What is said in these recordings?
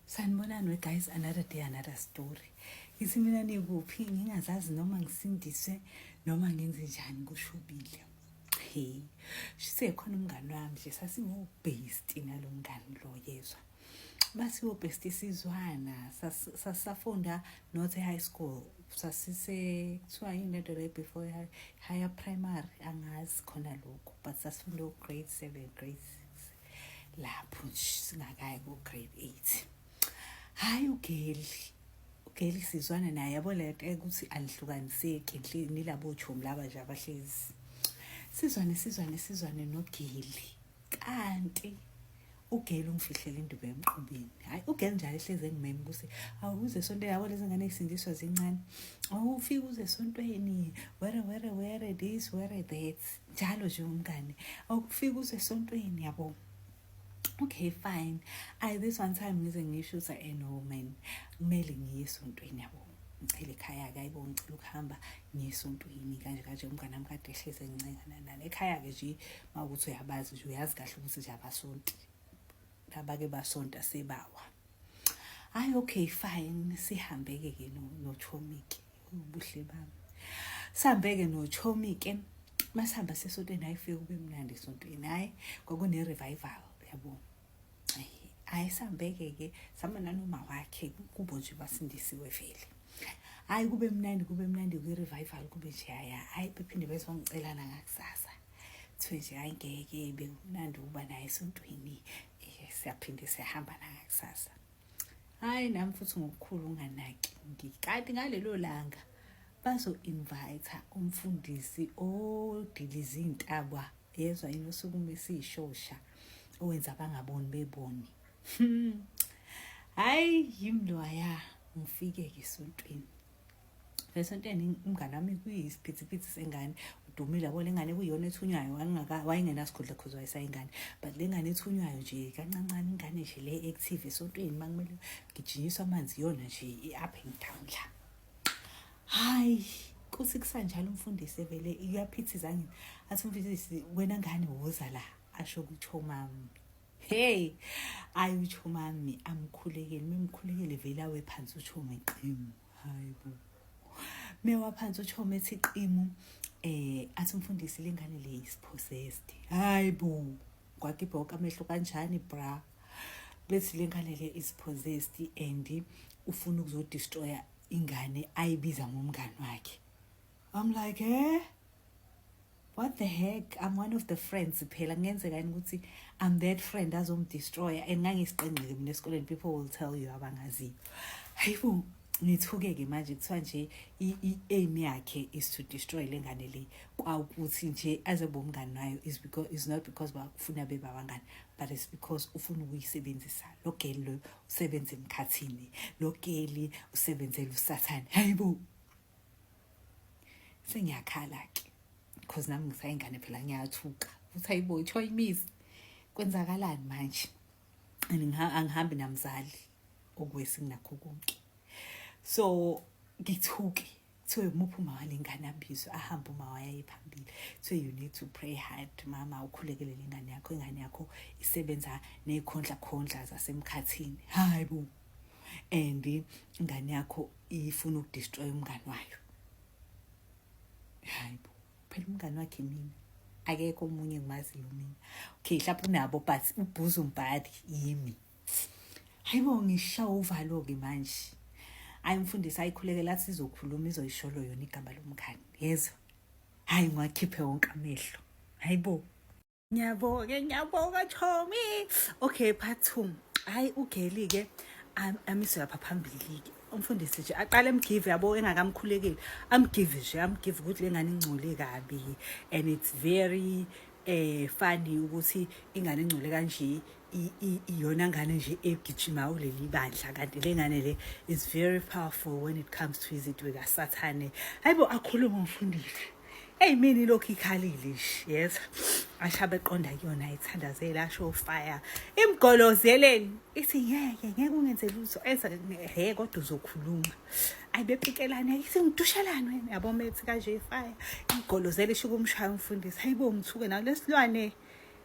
sanibonani we guys another day another story ithi mina nikuphi ngingazazi noma ngisindiswe noma ngenze njani kushubile he sisekhona umngani wami nje sasiwubhesti nalo mngani lo yezwa basiwubhesti sizwana sasafunda not high school sasise kuthiwa yini lento le before higher primary angazi khona lokhu but sasifunda u-grade seven grade six lapho singakayi ku grade 8 hayi ugeli ugeli sizwana naye yabo le nto ukuthi anihlukaniseki nilabo chomi laba nje abahlezi sizwane sizwane sizwane nogeli kanti ugeli ungifihlela induku emqubeni hayi ugeli njalo ehlezi engimeme ukuthi awuze esontweni yabo lezi ngane zisindiswa zincane awufike uze esontweni were were were this were that njalo nje umngane awukufika uze esontweni yabo okay fine i this one time ngize ngisho ukuthi eh no man kumele ngiye esontweni yabo ngicela ekhaya-ke ayibo ngicela ukuhamba ngiyesontweni kanje kanje umngane wami kade ehlezi encengananani ekhaya-ke nje uma ukuthi uyabazi nje uyazi kahle ukuthi nje abasonti laba-ke basonta sebawa hayi okay fine sihambeke ke nochomike ubuhle bami sihambeke nochomike masihamba sesontweni hayi fike kube mnandi esontweni hayi kwakune-revival yabo hayi sihambeke ke sihamba nanoma wakhe kubo nje basindisiwe vele hayi kube mnandi kube mnandi kwi-revival kube nje haya hayi bephinde bezongicelana ngakusasa kuthiwe nje hayi ngeke bekumnandi ukuba naye esontweni siyaphinde siyahamba nangakusasa hayi nami futhi ngokukhulu unganaki ngikanti ngalelo langa bazo-invayitha umfundisi odiliza iy'ntabwa yezwa yini osukume esiyishosha owenza abangaboni beboni hmm. hayi yimloya ngifike-ke esontweni esontweni umngane wami kuyisiphithiphithi sengane udumile yabo le ngane kuyiyona ethunywayo wayengenasikhundla cause wayesayingane but le ngane ethunywayo nje kancancane ingane nje le active esontweni uma kumele ngijinyiswa amanzi iyona nje i-up and down la hayi kuthi kusanjalo umfundisi evele iyaphithiza ngini athi umfundisi wena ngane woza la asho ukuthi omami Hey, ayi utsho mami amkhulekele, memkhulekele vele awe phansi utsho ngeqimu. Hayi bo. Mewa phansi utsho methi iqimu eh athi umfundisi lengane le is possessed. Hayi bo. Kwakibhoka amehlo kanjani bra? Bethi lengane le is possessed and ufuna ukuzodestroya ingane ayibiza ngomngani wakhe. I'm like, eh? what the heck i'm one of the friends phela kungenzeka yini ukuthi i'm that friend azomdestroya and ngangisiqengqile mina esikoleni people will tell you abangaziyo hayibo ngithuke-ke manje kuthiwa nje i-aim yakhe is to destroy le ngane le kwawukuthi nje aze bomngani nayo is because is not because bakufuna bebabangani but it's because ufuna ukuyisebenzisa lo geli loyo usebenza emkhathini lo geli usebenzela usathane hayibo sengiyakhala ke because nami ngisayingane phela ngiyathuka ukuthi hayibo ithiwa imizi kwenzakalani manje angihambi namzali okwesi nginakho konke so ngithuke kuthiwe umuphi umama lengane abizwe ahambe umama yaye phambili kuthiwe you need to pray hard mama ukhulekele lengane yakho ingane yakho isebenza nekhondla khondla zasemkhathini hayi bo and ingane yakho ifuna ukudestroy umngane wayo hayi bo phela umngane wakhe mina akekho omunye ngimaziyo mina okay mhlawumbe unabo but ubhuza umbhali yimi hayi bo ngishawa uvalo-ke manje hayi mfundisi ayikhuleke la sizokhuluma izoyisholo yona igama lomngane yezwa hayi ngiwakhiphe wonke amehlo hayi bo ngiyabonga ngiyabonga chomi okay part two hayi ugeli ke amiswe lapha phambili-ke umfundisi nje aqale amgive yabo engakamkhulekeli amgive nje amgive ukuthi le ngane ingcole kabi and it's very eh funny ukuthi ingane ingcole kanje iyona ngane nje egijima kuleli bandla kanti le ngane le is very powerful when it comes to izinto kasathane hayi bo akhulume umfundisi eyi mina ilokhu ikhalile nje yes ashabe eqonda kuyona ithandazela asho ufire imgolozeleni ithi ngeke ngeke ungenze lutho eza he kodwa uzokhuluma ayi bepikelane ithi ngidushelane wena yabo methi kanje ifire imgolozela isho kumshaya umfundisi hayibo ngithuke nawo lesilwane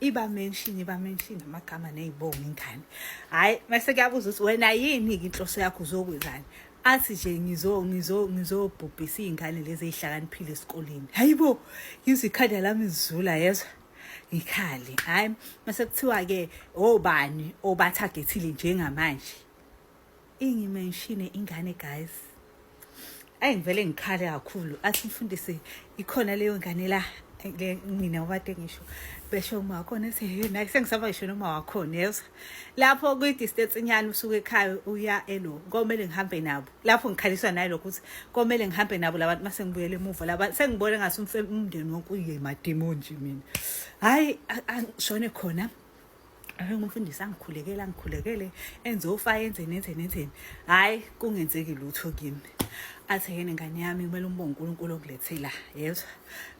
iba mention iba mention amagama ney'bongo ingane hhayi mase kuyabuza ukuthi wena yini-ke inhloso yakho uzokwenzani athi nje ngizo ngizo ngizobhubhisa iy'ngane lezi ey'hlakaniphile esikoleni hhayi bo ngizwe ikhanda lami zizula yezwa ngikhale hhayi mase kuthiwa-ke obani obathagethile njengamanje ingimenshine ingane guys ayi ngivele ngikhale kakhulu athi mfundisi ikhona leyo ngane la mina wade ngisho besho uma wakhona ethi hey naye sengisaba ngisho noma wakhona yezwa lapho kwi-distance inyani usuke ekhaya uya elo komele ngihambe nabo lapho ngikhaliswa naye lokho ukuthi komele ngihambe nabo labantu mase ngibuyele emuva laba sengibone ngase umndeni wonke uye madimoni nje mina hhayi shone khona Ahenga umfundisi angikhulekele angikhulekele enze ufa enzeni enzeni enzeni hhayi kungenzeki lutho kimi athi yena ngane yami kumele umbonge unkulunkulu okulethela yezwa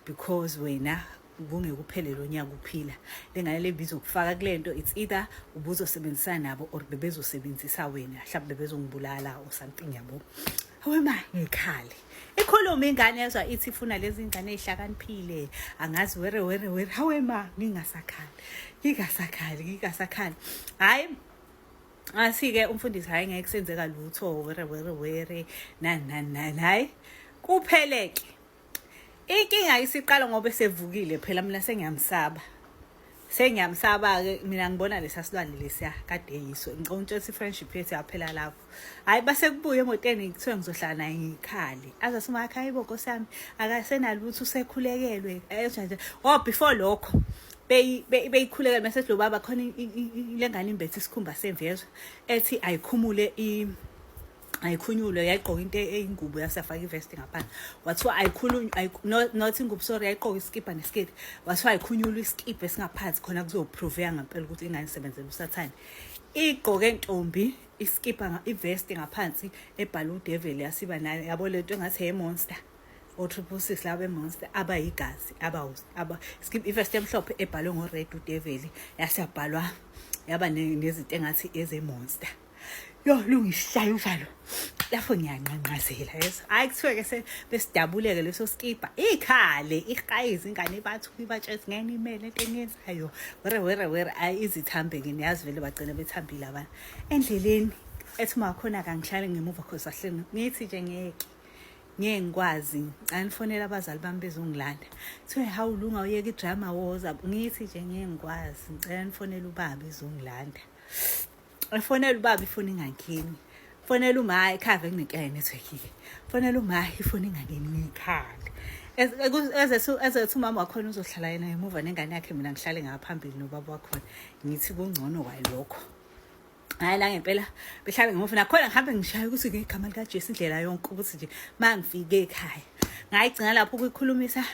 because wena kungekuphele lo nyaka uphila le ngane le bizokufaka kule nto it's either ubuzosebenzisana nabo or bebezosebenzisa wena mhlawumbe bebezongibulala or something yabo awema ngikhale ikhuluma ingane yezwa ithi ifuna lezi ngane ezihlakaniphile angazi were were were hawe ma ngingasakhali ngingasakhali ngingasakhali hayi asike umfundisi hayi ngeke kusenzeka lutho were were were nani nani nani hayi kupheleke inkinga isiqala ngoba esevukile phela mina sengiyamsaba sengiyamsaba-ke mina ngibona lesa silwane lesiya kade yiso ngicela ukutshela i-friendship yethu yaphela lapho hhayi base kubuye emotweni kuthiwe ngizohlala naye ngiyikhali aze simakha yibo nkosi yami akasenalutho usekhulekelwe enjanje o oh, before lokho beyikhulekele mese lo baba khona le ngane imbethe isikhumba semvezwe ethi ayikhumule ayikhunyulwe yayigqoka into e-, eyingubo yasafaka ivest ngaphansi wathiwa ayikhulunywe not ingubo sorry yayigqoka isikibha nesiketi wathiwa ayikhunyulwe isikibha esingaphansi khona kuzopruveka ngempela ukuthi ingane isebenzela usathane igqoke ntombi isikibha ivest ngaphansi ebhala udeveli yasiba nayo yabo lento engathi yemonster o-triple six laba bemonster abayigazi ivest emhlophe ebhalwe ngored udeveli yasabhalwa yaba nezinto engathi ezemonster Yo lungisishaya umfalo. Lapho ngiyanqanqazela yeso. Hayi kuthiwe ke se besidabuleke leso skipa. Ikhale iqayizi ingane bathu ibatshezi ngene imele into eniyenzayo. Were were were ayi izithambe ngene yazi vele bagcina bethambile abantu. Endleleni ethi uma khona kangihlale ngemuva khosa hleni. Ngithi nje ngeke. ngeke ngikwazi angifonela abazali bami bezongilanda kuthiwe hawu lunga uyeka idrama woza ngithi nje ngeke ngikwazi ngicela nifonele ubaba ezongilanda efonela ubaba ifoni ingangeni fonela uma ikhave kunenkinga yenetwork-ke fonela uma ifoni ingangeni ngiyikhale ezethu umama wakhona uzohlala yena ngemuva nengane yakhe mina ngihlale ngaphambili nobaba wakhona ngithi kungcono kwayo lokho hayi la ngempela behlale ngemuva nakhona ngihambe ngishaya ukuthi ngegama likajesu indlela yonke ukuthi nje ma ngifike ekhaya ngayigcina lapho ukuyikhulumisa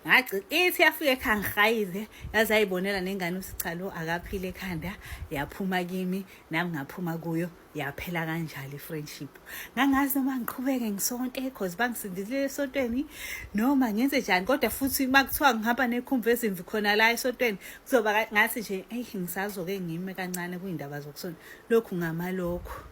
ngagcina ithi yafika ekhaya ngihayize yaze yayibonela nengane ukuthi cha lo akaphile ekhanda yaphuma kimi nami ngaphuma kuyo yaphela kanjalo i-friendship ngangazi noma ngiqhubeke ngisonte cause bangisindile esontweni noma ngenze njani kodwa futhi uma kuthiwa ngihamba nekhumva ezimvi khona la esontweni kuzoba ngathi nje eyi ngisazoke ngime kancane kuyindaba zokusonta lokhu ngamalokhu